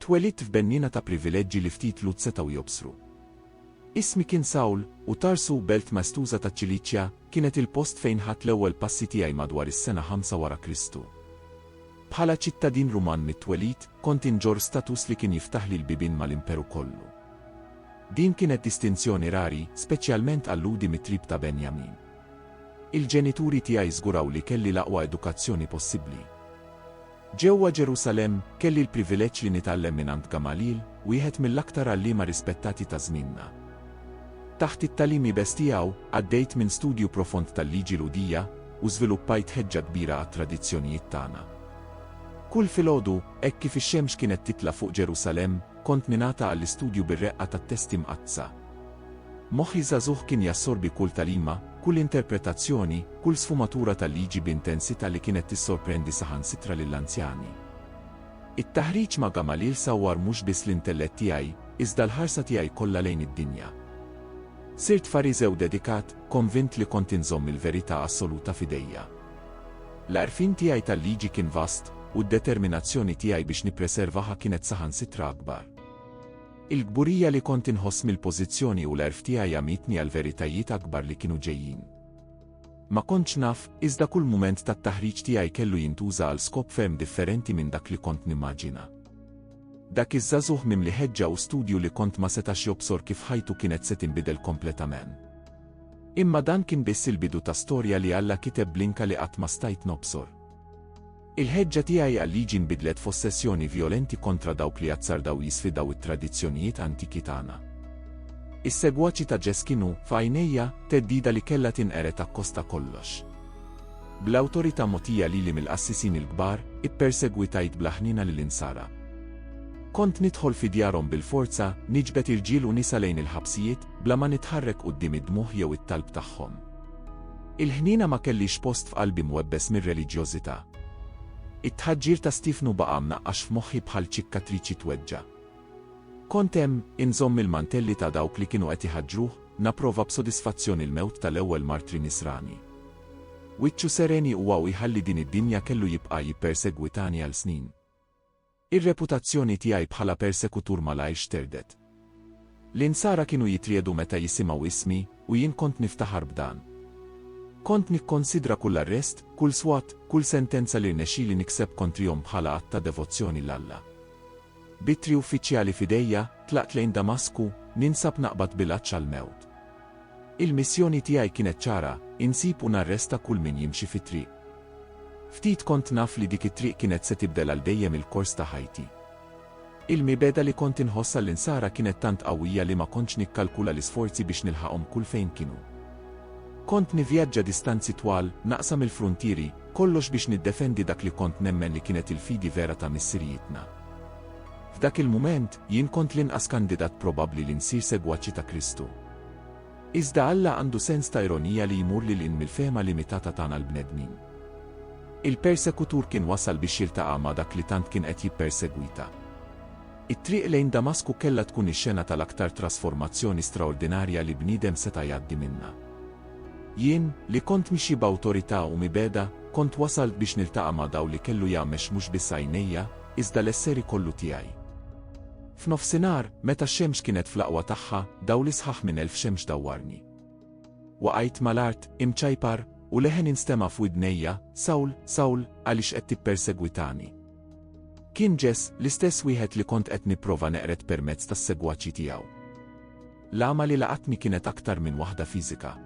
Twelidt f'benniena ta' privileġġi li ftit Lhud setgħu jobsru. Ismi kien Sawl, u Tarsu, belt maestuża taċ-Ċiliċja, kienet il-post fejn ħadt l-ewwel passi tiegħi madwar is-sena 5 wara Kristu. Bħala ċittadin Ruman mit-twelid, kont inġorr status li kien jiftaħli l-bibien mal-Imperu kollu. Din kienet distinzjoni rari, speċjalment għal Lhudi mit-trib ta' Benjamin. Il-ġenituri tiegħi żguraw li kelli l-aqwa edukazzjoni possibbli. Ġewwa Ġerusalemm, kelli l-privileġġ li nitgħallem mingħand Gamaliel, wieħed mill-aktar għalliema rispettati ta' żmienna. Taħt it-tagħlim iebes tiegħu, għaddejt minn studju profond tal-liġi Lhudija, u żviluppajt ħeġġa kbira għat-tradizzjonijiet tagħna. Kull filgħodu, hekk kif ix-xemx kienet titla' fuq Ġerusalemm, kont ningħata għall-istudju bir-reqqa tat-Testi Mqaddsa. Moħħi żagħżugħ kien jassorbi kull tagħlima, kull interpretazzjoni, kull sfumatura tal-liġi b'intensità li kienet tissorprendi saħansitra lill-anzjani. It-taħriġ ma' Gamaliel sawwar mhux biss l-intellett tiegħi, iżda l-ħarsa tiegħi kollha lejn id-dinja. Sirt Fariżew dedikat, konvint li kont inżomm il-verità assoluta f'idejja. L-għarfien tiegħi tal-liġi kien vast, u d-determinazzjoni tiegħi biex nippreservaha kienet saħansitra akbar. Il-kburija li kont inħoss mill-pożizzjoni u l-għerf tiegħi għamitni għall-veritajiet akbar li kienu ġejjin. Ma kontx naf, iżda kull mument tat-taħriġ tiegħi kellu jintuża għal skop ferm differenti minn dak li kont nimmaġina. Dak iż-żagħżugħ mimli ħeġġa u studju li kont ma setax jobsor kif ħajtu kienet se tinbidel kompletament. Imma dan kien biss il-bidu ta' storja li Alla kiteb b'linka li qatt ma stajt nobsor. Il-ħeġġa tiegħi għal-liġi nbidlet f'ossessjoni vjolenti kontra dawk li jazzardaw u jisfidaw it-tradizzjonijiet antiki tagħna. Is-segwaċi ta' Ġess kienu, f'għajnejja, theddida li kellha tinqered akkost ta' kollox. Bl-awtorità mogħtija lili mill-qassisin il-kbar, ippersegwitajt bla ħniena lill-Insara. Kont nidħol fi djarhom bil-forza, niġbed irġiel u nisa lejn il-ħabsijiet, bla ma nitħarrek quddiem id-dmugħ jew it-talb tagħhom. Il-ħniena ma kellhiex post f'qalbi mwebbes mir-reliġjożità. It-tħaġġir ta' Stiefnu baqa' mnaqqax f'moħħi bħal ċikkatriċi tweġġa'. Kont hemm, inżomm il-mantelli ta' dawk li kienu qed iħaġġruh, napprova b'sodisfazzjon il-mewt tal-ewwel martri Nisrani. Wiċċu seren iqwa u jħalli din id-dinja kellu jibqa' jippersegwitani għal snin. Ir-reputazzjoni tiegħi bħala persekutur malajr xterdet. L-Insara kienu jitriegħdu meta jisimgħu ismi, u jien kont niftaħar b'dan. Kont nikkonsidra kull arrest, kull swat, kull sentenza li rnexxieli nikseb kontrihom bħala att ta' devozzjoni 'l Alla. B'ittri uffiċjali f'idejja, tlaqt lejn Damasku, ninsab naqbad bil-għatx għall-mewt. Il-missjoni tiegħi kienet ċara, insib u narresta kull min jimxi fit-triq. Ftit kont naf li dik it-triq kienet se tibdel għal dejjem il-kors ta' ħajti. Il-mibegħda li kont inħoss għall-Insara kienet tant qawwija li ma kontx nikkalkula l-isforzi biex nilħaqhom kull fejn kienu. Kont nivvjaġġa distanzi twal, naqsam il-fruntieri, kollox biex niddefendi dak li kont nemmen li kienet il-fidi vera ta' missirijietna. F'dak il-mument, jien kont l-inqas kandidat probabbli li nsir segwaċi ta' Kristu. Iżda Alla għandu sens ta' ironija li jmur lil hinn mill-fehma limitata tagħna l-bnedmin. Il-persekutur kien wasal biex jiltaqa' ma' dak li tant kien qed jippersegwita. It-triq lejn Damasku kellha tkun ix-xena tal-aktar trasformazzjoni straordinarja li bniedem seta' jgħaddi minnha. Jien, li kont mixi b'awtorità u mibegħda, kont wasalt biex niltaqa' ma' dawl li kellu jgħammex mhux biss għajnejja, iżda l-esseri kollu tiegħi. F'nofsinhar, meta x-xemx kienet fl-aqwa tagħha, dawli sħaħ minn elf xemx dawwarni. Waqajt mal-art, imċajpar, u leħen instema' f'widnejja, Sawl, Sawl, għaliex qed tippersegwitani? Kien Ġess, l-istess wieħed li kont qed nipprova neqred permezz tas-segwaċi tiegħu. L-għama li laqatni kienet aktar minn waħda fiżika.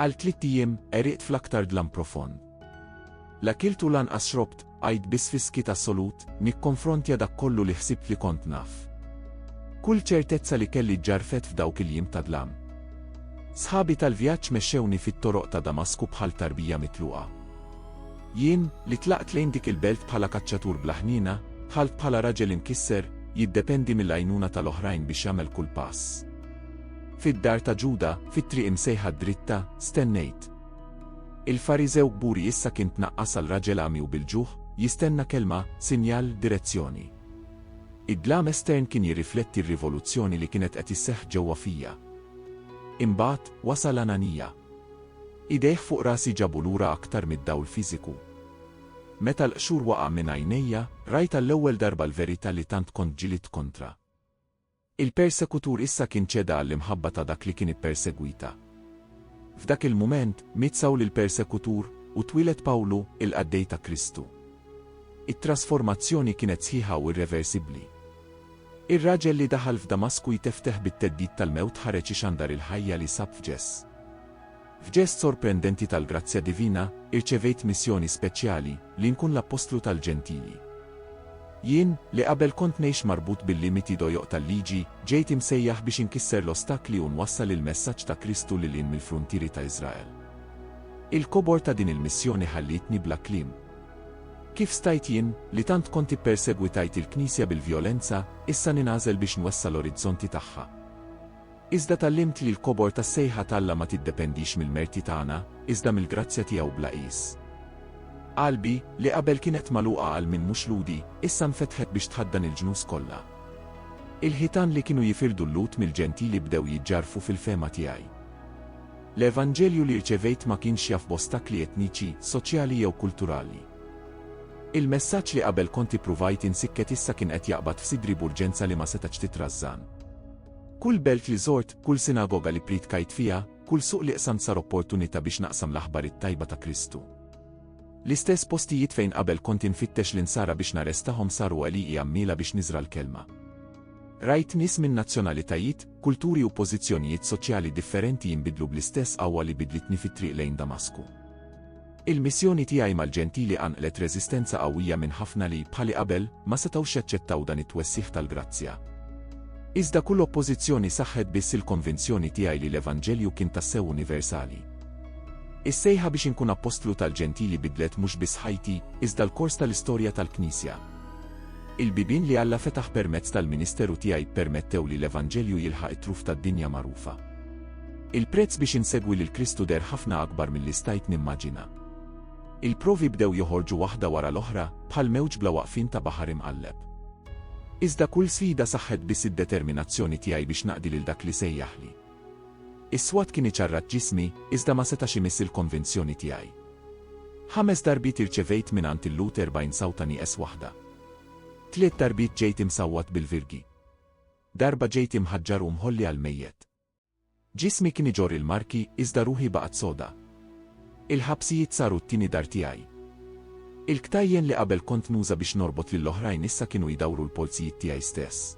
Għal tliet ijiem, għeriqt fl-aktar dlam profond. La kilt u lanqas xrobt, għidt biss fi skiet assolut, nikkonfrontja dak kollu li ħsibt li kont naf. Kull ċertezza li kelli ġġarfet f'dawk il-jiem ta' dlam. Sħabi tal-vjaġġ mexxewni fit-toroq ta' Damasku bħal tarbija mitluqa. Jien, li tlaqt lejn dik il-belt bħala kaċċatur bla ħniena, dħalt bħala raġel imkisser, jiddependi mill-għajnuna tal-oħrajn biex jagħmel kull pass. Fid-dar ta' Ġuda, fit-triq imsejħa d-dritta, stennejt. Il-Fariżew kburi issa kien tnaqqas għal raġel għami u bil-ġuħ, jistenna kelma, sinjal, direzzjoni. Id-dlam estern kien jirrifletti r-rivoluzzjoni li kienet qed isseħħ ġewwa fija. Imbagħad, wasal Ananija. Idejh fuq rasi ġabu lura aktar mid-dawl fiżiku. Meta l-qxur waqa' minn għajnejja, rajt għall-ewwel darba l-verità li tant kont ġilidt kontra. Il-persekutur issa kien ċeda għall-imħabba ta' dak li kien ippersegwita. F'dak il-mument, miet Sawl il-persekutur, u twieled Pawlu, il-qaddej ta' Kristu. It-trasformazzjoni kienet sħiħa u irreversibbli. Ir-raġel li daħal f'Damasku jtefteh bit-theddid tal-mewt ħareġ ixandar il-ħajja li sab f'Ġess. F'ġest sorprendenti tal-grazzja divina, irċevejt missjoni speċjali, li nkun l-appostlu tal-Ġentili. Jien, li qabel kont ngħix marbut bil-limiti dojoq tal-Liġi, ġejt imsejjaħ biex inkisser l-ostakli u nwassal il-messaġġ ta' Kristu lil hinn mill-fruntieri ta' Iżrael. Il-kobor ta' din il-missjoni ħallietni bla kliem. Kif stajt jien, li tant kont ippersegwitajt il-Knisja bil-vjolenza, issa ningħażel biex nwessa' l-orizzonti tagħha? Iżda tgħallimt li l-kobor tas-sejħa t'Alla ma tiddependix mill-merti tagħna, iżda mill-grazzja tiegħu bla qies. Qalbi, li qabel kienet magħluqa għal min mhux Lhudi, issa nfetħet biex tħaddan il-ġnus kollha. Il-ħitan li kienu jifirdu l-Lhud mill-Ġentili bdew jiġġarrfu fil-fehma tiegħi. L-evanġelju li rċevejt ma kienx jaf b'ostakli etniċi, soċjali jew kulturali. Il-messaġġ li qabel kont ippruvajt insikket issa kien qed jaqbad f'sidri b'urġenza li ma setax titrażżan. Kull belt li żort, kull sinagoga li priedkajt fiha, kull suq li qsamt sar opportunità biex naqsam l-aħbar it-tajba ta' Kristu. L-istess postijiet fejn qabel kont infittex l-Insara biex narrestahom saru għaliji għammiela biex niżra' l-kelma. Rajt nies minn nazzjonalitajiet, kulturi u pożizzjonijiet soċjali differenti jinbidlu bl-istess qawwa li bidlitni fit-triq lejn Damasku. Il-missjoni tiegħi mal-Ġentili qanqlet reżistenza qawwija minn ħafna li, bħali qabel, ma setgħux jaċċettaw dan it-twessigħ tal-grazzja. Iżda kull oppożizzjoni saħħet biss il-konvinzjoni tiegħi li l-Evanġelju kien tassew universali. Is-sejħa biex inkun appostlu tal-Ġentili bidlet mhux biss ħajti, iżda l-kors tal-istorja tal-Knisja. Il-bibien li Alla fetaħ permezz tal-ministeru tiegħi ppermettew li l-Evanġelju jilħaq it-truf tad-dinja magħrufa. Il-prezz biex insegwi lil Kristu deher ħafna akbar milli stajt nimmaġina. Il-provi bdew joħorġu waħda wara l-oħra, bħal mewġ bla waqfien ta' baħar imqalleb. Iżda kull sfida saħħet biss id-determinazzjoni tiegħi biex naqdi lil dak li sejjaħli. Is-swat kien iċarrat ġismi, iżda ma setax imiss il-konvinzjoni tiegħi. Ħames darbiet irċevejt mingħand il-lut erbgħin sawta nieqes waħda. Tliet darbiet ġejt imsawwat bil-virgi. Darba ġejt imħaġġar u mħolli għall-mejjet. Ġismi kien iġorr il-marki iżda ruħi baqgħet soda. Il-ħabsijiet saru t-tieni dar tiegħi. Il-ktajjen li qabel kont nuża biex norbot lil oħrajn issa kienu jdawru l-polzijiet tiegħi stess.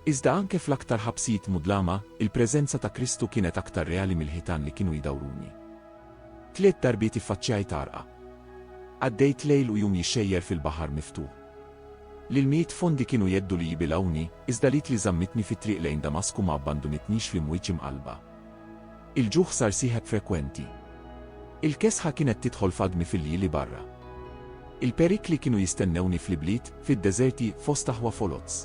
Iżda anke fl-aktar ħabsijiet mudlama, il-preżenza ta' Kristu kienet aktar reali mill-ħitan li kienu jdawruni. Tliet darbiet iffaċċjajt għarqa. Għaddejt lejl u jum jixxejjer fil-baħar miftuħ. L-ilmijiet fondi kienu jeddu li jibilgħuni, iżda l-id li żammitni fit-triq lejn Damasku ma abbandunitnix fl-imwieġ imqallba. Il-ġuħ sar sieħeb frekwenti. Il-kesħa kienet tidħol f'għadmi fil-lji li barra. Il-perikli kienu jistennewni fl-ibliet, fid-deżerti, fost aħwa foloz.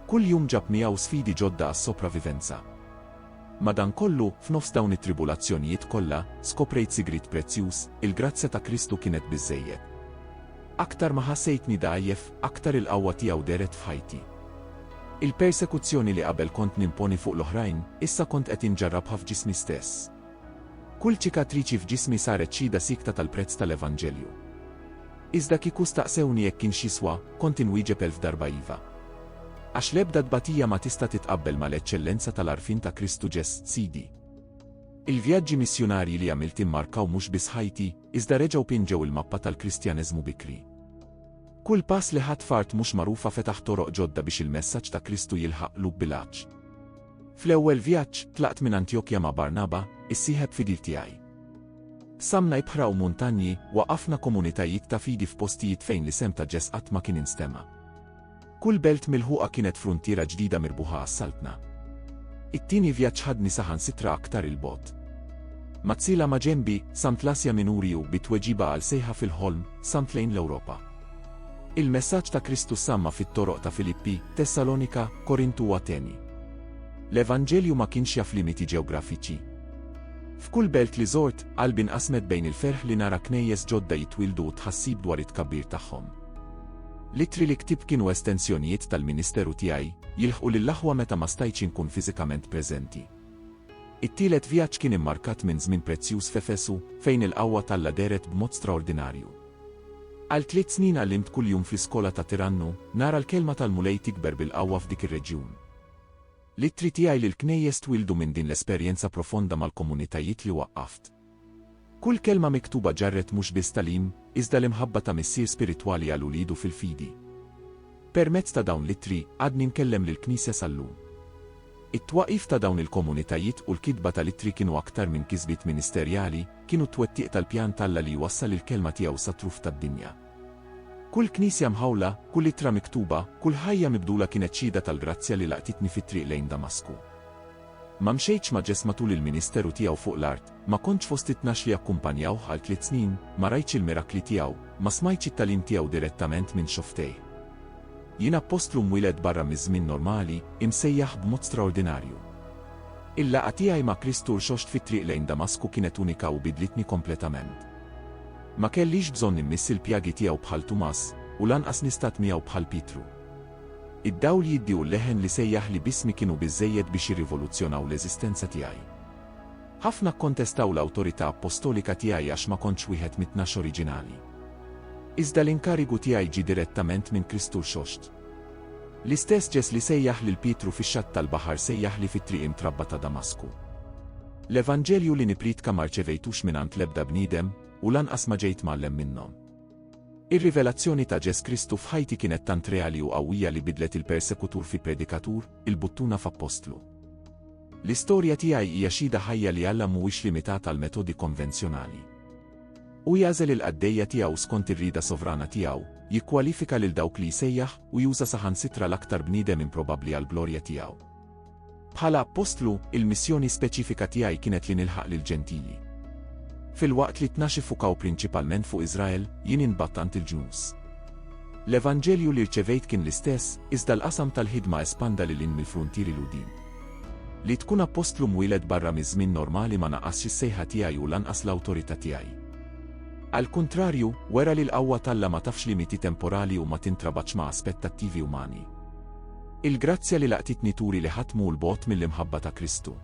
Kull jum ġab miegħu sfidi ġodda għas-sopravivenza. Madankollu, f'nofs dawn it-tribulazzjonijiet kollha, skoprejt sigriet prezzjuż, il-grazzja ta' Kristu kienet biżżejjed. Aktar ma ħassejtni dgħajjef, aktar il-qawwa tiegħu dehret f'ħajti. Il-persekuzzjoni li qabel kont nimponi fuq l-oħrajn, issa kont qed inġarrabha f'ġismi stess. Kull ċikatriċi f'ġismi saret xhieda siekta tal-prezz tal-evanġelju. Iżda kieku staqsewni jekk kienx jiswa, kont inwieġeb elf darba iva. Għax l-ebda tbatija ma tista' titqabbel mal-eċċellenza tal-għarfien ta' Kristu Ġes, Sidi. Il-vjaġġi missjunarji li għamilt immarkaw mhux biss ħajti, iżda reġgħu pinġew il-mappa tal-Kristjaneżmu bikri. Kull pass li ħadt f'art mhux magħrufa fetaħ toroq ġodda biex il-messaġġ ta' Kristu jilħaq qlub bil-għatx. Fl-ewwel vjaġġ, tlaqt minn Antjokja ma' Barnaba, is-sieħeb fidil tiegħi. Samna ibħra u muntanji, waqqafna komunitajiet ta' fidi f'postijiet fejn l-isem ta' Ġess qatt ma kien instema'. Kull belt milħuqa kienet fruntiera ġdida mirbuħa għas-Saltna. It-tieni vjaġġ ħadni saħansitra aktar 'il bogħod. Mazzila ma' ġenbi, Sant l-Asja Minuri u, bi tweġiba għal sejħa fil-ħolm, Sant lejn l-Ewropa. Il-messaġġ ta' Kristu ssamma' fit-toroq ta' Filippi, Tessalonika, Korintu u Ateni. L-Evanġelju ma kienx jaf limiti ġeografiċi. F'kull belt li żort, qalbi nqasmet bejn il-ferħ li nara knejjes ġodda jitwieldu u t-tħassib dwar it-tkabbir tagħhom. L-ittri li ktibt kienu estensjonijiet tal-ministeru tiegħi, jilħqu lill-aħwa meta ma stajtx inkun fiżikament preżenti. It-tielet vjaġġ kien immarkat minn żmien prezzjuż f'Efesu, fejn il-qawwa t'Alla dehret b'mod straordinarju. Għal tliet snin għallimt kuljum fl-iskola ta' Tirannu, nara l-Kelma tal-Mulej tikber bil-qawwa f'dik ir-reġjun. L-ittri tiegħi lill-Knejjes twieldu minn din l-esperjenza profonda mal-komunitajiet li waqqaft. Kull kelma miktuba ġarret mhux biss tagħlim, iżda l-imħabba ta' missier spiritwali għal uliedu fil-fidi. Permezz ta' dawn l-ittri, għadni nkellem lill-Knisja sal-lum. It-twaqqif ta' dawn il-komunitajiet u l-kitba tal-ittri kienu aktar minn kisbiet ministerjali, kienu t-twettiq tal-pjan t'Alla li jwassal il-Kelma tiegħu sat-truf tad-dinja. Kull knisja mħawla, kull ittra miktuba, kull ħajja mibdula kienet xhieda tal-grazzja li laqtitni fit-triq lejn Damasku. Ma mxejtx ma' Ġesma tul il-ministeru tiegħu fuq l-art, ma kontx fost it-tnax li akkumpanjawh għal tliet snin, ma rajtx il-mirakli tiegħu, ma smajtx it-tagħlim tiegħu direttament minn xofftejh. Jien appostlu mwieled barra miż-żmien normali, imsejjaħ b'mod straordinarju. Il-laqgħa tiegħi ma' Kristu rxoxt fit-triq lejn Damasku kienet unika u bidlitni kompletament. Ma kellix bżonn immiss il-pjagi tiegħu bħal Tumas, u lanqas nistat miegħu bħal Pietru. Id-dawl jiddi u l-leħen li sejjaħli b'ismi kienu biżżejjed biex jirrivoluzzjonaw l-eżistenza tiegħi. Ħafna kkontestaw l-awtorità appostolika tiegħi għax ma kontx wieħed mit-tnax oriġinali. Iżda l-inkarigu tiegħi ġie direttament minn Kristu Rxoxt. L-istess Ġes li sejjaħ lil Pietru fix-xatt tal-baħar sejjaħli fit-triq imtrabba ta' Damasku. L-Evanġelju li nippriedka ma rċevejtux mingħand l-ebda bniedem, u lanqas ma ġejt mgħallem minnhom. Ir-rivelazzjoni ta' Ġes Kristu f'ħajti kienet tant reali u qawwija li bidlet il-persekutur fi predikatur, il-buttuna f'appostlu. L-istorja tiegħi hija xhieda ħajja li Alla mhuwiex limitat għall-metodi konvenzjonali. Hu jagħżel il-qaddejja tiegħu skont ir-rieda sovrana tiegħu, jikkwalifika lil dawk li jsejjaħ u juża saħansitra l-aktar bniedem improbabbli għall-glorja tiegħu. Bħala appostlu, il-missjoni speċifika tiegħi kienet li nilħaq lill-Ġentili. Filwaqt li t-tnax iffukaw prinċipalment fuq Iżrael, jien inbattant il-ġnus. L-evanġelju li rċevejt kien l-istess, iżda l-qasam tal-ħidma espanda lil hinn mill-fruntieri Lhudin. Li tkun appostlu mwieled barra miż-żmien normali ma naqqasx is-sejħa tiegħi u lanqas l-awtorità tiegħi. Għall-kuntrarju, wera li l-qawwa t'Alla ma tafx limiti temporali u ma tintrabatx ma' aspettattivi umani. Il-grazzja li laqtitni turi li ħadd mhu 'l bogħod mill-imħabba ta' Kristu.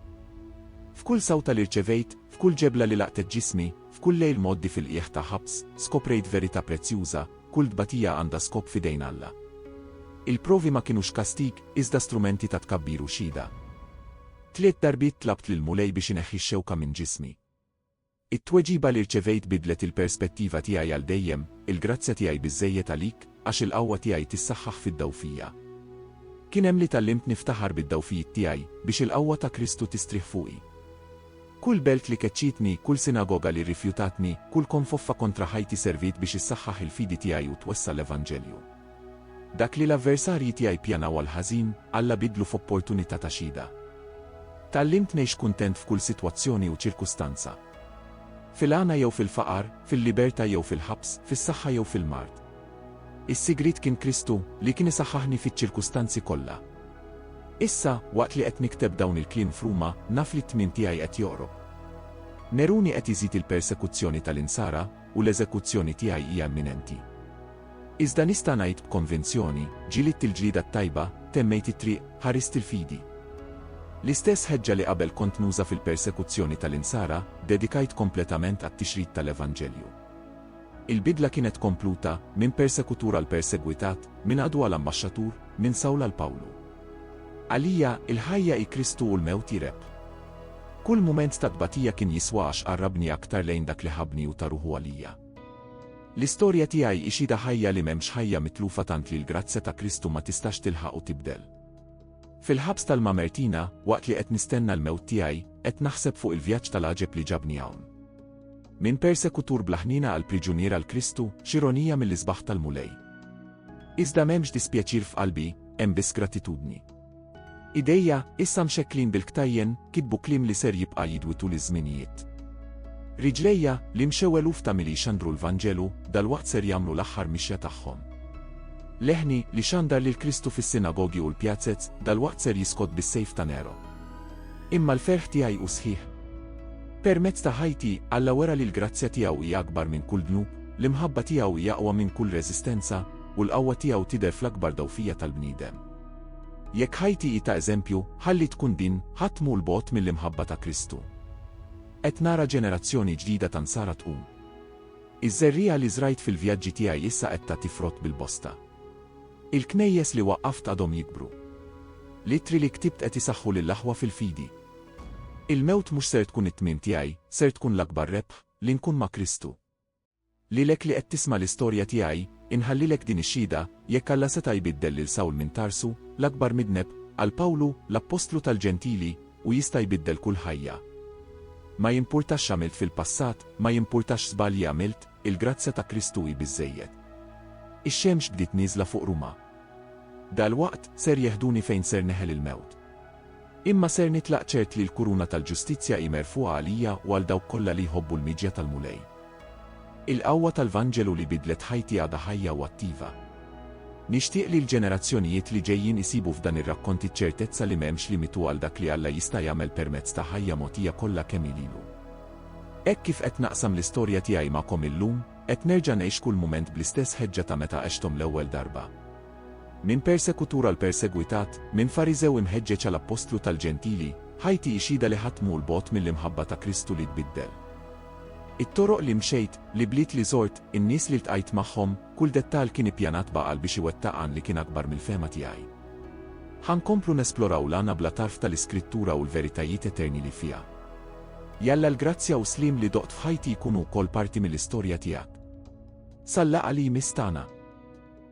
F'kull sawta li rċevejt, f'kull ġebla li laqtet ġismi, f'kull lejl mgħoddi fil-qiegħ ta' ħabs, skoprejt verità prezzjuża, Kull tbatija għandha skop f'idejn Alla. Il-provi ma kinux kastig, iżda strumenti ta' tkabbir u xhieda. Tliet darbiet tlabt lill-Mulej biex ineħħi x-xewka minn ġismi. It-tweġiba li rċevejt biddlet il-perspettiva tiegħi għal dejjem, Il-grazzja tiegħi biżżejjed għalik, għax il-qawwa tiegħi tissaħħaħ fid-dgħufija. Kien hemm li tgħallimt niftaħar bid-dgħufijiet tiegħi, biex il-qawwa ta' Kristu tistrieħ fuqi. Kull belt li keċċietni, kull sinagoga li rrifjutatni, kull konfoffa kontra ħajti serviet biex issaħħaħ il-fidi tiegħi u twessa' l-evanġelju. Dak li l-avversarji tiegħi ppjanaw għall-ħażin, Alla biddlu f'opportunità ta' xhieda. Tgħallimt ngħix kuntent f'kull sitwazzjoni u ċirkustanza. Fil-għana jew fil-faqar, fil-libertà jew fil-ħabs, fis-saħħa jew fil-mard. Is-sigriet kien Kristu, li kien isaħħaħni fiċ-ċirkustanzi kollha. Issa, waqt li qed nikteb dawn il-kliem f'Ruma, naf li t-tmien tiegħi qed joqrob. Neruni qed iżid il-persekuzzjoni tal-Insara, u l-eżekuzzjoni tiegħi hija imminenti. Iżda nista' ngħid b'konvinzjoni, ġilidt il-ġlieda t-tajba, temmejt it-triq, ħarist il-fidi. L-istess ħeġġa li qabel kont nuża fil-persekuzzjoni tal-Insara, ddedikajt kompletament għat-tixrid tal-Evanġelju. Il-bidla kienet kompluta, minn persekutur għal persegwitat, minn għadu għal ambaxxatur, minn Sawl għal Pawlu. Għalija, il-ħajja hi Kristu u l-mewt hi rebħ. Kull mument ta' tbatija kien jiswa għax qarrabni aktar lejn dak li ħabbni u ta ruħu għalija. L-istorja tiegħi hi xhieda ħajja li m'hemmx ħajja mitlufa tant li l-grazzja ta' Kristu ma tistax tilħaq u tibdel. Fil-ħabs tal-Mamertina, waqt li qed nistenna l-mewt tiegħi, qed naħseb fuq il-vjaġġ tal-għaġeb li ġabni hawn. Minn persekutur bla ħniena għal priġunier għal Kristu, x'ironija mill-isbaħ tal-Mulej! Iżda m'hemmx dispjaċir f'qalbi, hemm biss gratitudni. Idejja, issa mxekklin bil-ktajjen, kitbu kliem li ser jibqa' jidwi tul iż-żminijiet. Riġlejja, li mxew eluf ta' mili jxandru l-Vanġelu, dalwaqt ser jagħmlu l-aħħar mixja tagħhom. Leħni, li xandar lil Kristu fis-sinagogi u l-pjazez, dalwaqt ser jiskott bis-sejf ta' Nero. Imma l-ferħ tiegħi hu sħiħ. Permezz ta' ħajti, Alla wera li l-grazzja tiegħu hija akbar minn kull dnub, l-imħabba tiegħu hija aqwa minn kull reżistenza, u l-qawwa tiegħu tidher fl-akbar dgħufija tal-bniedem. Jekk ħajti hi ta' eżempju, ħalli tkun din, ħadd mhu 'l bogħod mill-imħabba ta' Kristu. Qed nara ġenerazzjoni ġdida ta' Nsara tqum. Iż-żerriegħa li żrajt fil-vjaġġi tiegħi issa qed tagħti frott bil-bosta. Il-knejjes li waqqaft għadhom jikbru. L-ittri li ktibt qed isaħħu lill-aħwa fil-fidi. Il-mewt mhux ser tkun it-tmiem tiegħi, ser tkun l-akbar rebħ, li nkun ma' Kristu. Lilek li qed tisma' l-istorja tiegħi, inħallilek din ix-xhieda, jekk Alla seta' jbiddel lil Sawl minn Tarsu, l-akbar midneb, għal Pawlu, l-appostlu tal-Ġentili, hu jista' jbiddel kull ħajja. Ma jimpurtax x'għamilt fil-passat, ma jimpurtax x'żbalji għamilt, il-grazzja ta' Kristu hi biżżejjed. Ix-xemx bdiet nieżla fuq Ruma. Dalwaqt, ser jeħduni fejn ser neħel il-mewt. Imma ser nitlaq ċert li l-kuruna tal-ġustizzja hi merfugħa għalija u għal dawk kollha li jħobbu l-miġja tal-Mulej. Il-qawwa tal-Vanġelu li biddlet ħajti għadha ħajja u attiva. Nixtieq li l-ġenerazzjonijiet li ġejjin isibu f'dan ir-rakkont iċ-ċertezza li m'hemmx limitu għal dak li Alla jista' jagħmel permezz ta' ħajja mogħtija kollha kemm hi lilu. Hekk kif qed naqsam l-istorja tiegħi magħkom illum, qed nerġa' ngħix kull mument bl-istess ħeġġa ta' meta għexthom l-ewwel darba. Minn persekutur għal persegwitat, minn Fariżew imħeġġeġ għal appostlu tal-Ġentili, ħajti hi xhieda li ħadd mhu 'l bogħod mill-imħabba ta' Kristu li tbiddel. It-toroq li mxejt, l-ibliet li żort, in-nies li ltqajt magħhom, kull dettall kien ippjanat b'għaqal biex iwettaq għan li kien akbar mill-fehma tiegħi. Ħa nkomplu nesploraw l-għana bla tarf tal-Iskrittura u l-veritajiet eterni li fiha. Jalla l-grazzja u sliem li doqt f'ħajti jkunu wkoll parti mill-istorja tiegħek. Sal-laqgħa li jmiss tagħna!